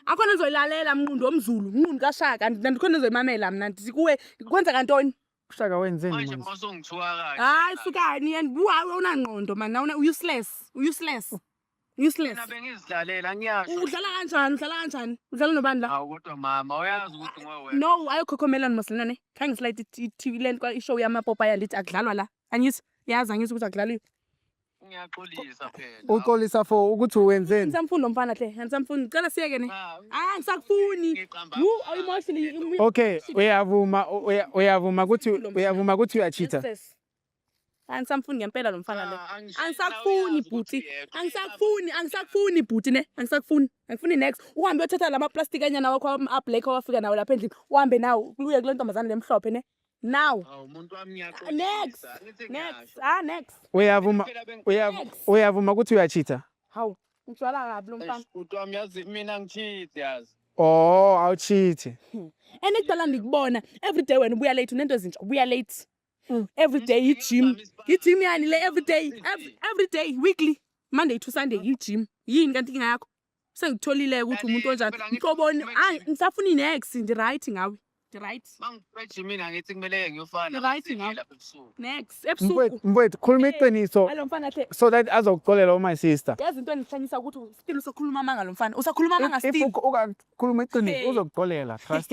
akhona ndizoyilalela mnqundu omzulu mnqundu kashaka nandikhona ndizoyimamela mna ndithi kuwe kwenzeka ntoni ushaka wenzeni manje manje masongithiwa kahle hayi sukani and uhayi unangqondo mani nawuna useless useless useless mina bengizilalela ngiyasho udlala kanjani udlala kanjani udlala nobani la hawu kodwa mama uyazi ukuthi ngowe no ayokhokhomelani masilane khange slide itv le nto ishow yamapopaya ndithi akudlalwa la angithi yazi angithi ukuthi akudlaliwe Ngiyaxolisa phela. Uxolisa for ukuthi wenzeni? Ngisamfuni lo mfana hle. Ngisamfuni. Ngicela siyeke ne. Ah, ngisakufuni. Wu emotionally. Okay, uyavuma uya- uyavuma ukuthi uyavuma ukuthi uyachitha. Yes. Angisamfuni ngempela lo mfana lo. Ah, angishilo, Angisakufuni uyazi ukuthi bhuti. uyeka. Angisakufuni, angisakufuni bhuti ne. Angisakufuni. Angifuni next. Uhambe uyothatha lama plastic anyana wakho a black owafika nawo lapha endlini. Uhambe nawo uye kule ntombazane lemhlophe ne. now Awu muntu wami next ngiyaxolisa. Angithi next ngiyasho. ah next uyavuma Phela beng- uyav- Next. uyavuma ukuthi uyachitha hawu ngijwala kabi lo mfana Eish, Bhuti wami yazi mina ngithithe yazi. oh awuchithi and ekudala ndikubona every day wena ubuya late unento ezintsha ubuya late Mm. every day i-gym i-gym yani le every day ev- every day weekly monday to sunday i-gym yini kanti inkinga yakho sengitholile ukuthi umuntu onjani mhloboni hayi ngisafuna inex ndi-right ngawe ndi-right mangifresh mina ngithi kumele ngiyofana ndi-right ngawe nex ebusuku mfowethu khuluma iqiniso so that azokuxolela uma sister yazi into endihlanyisa ukuthi still usakhuluma amanga lo mfana usakhuluma amanga still ukhuluma iqiniso uzokuxolela trust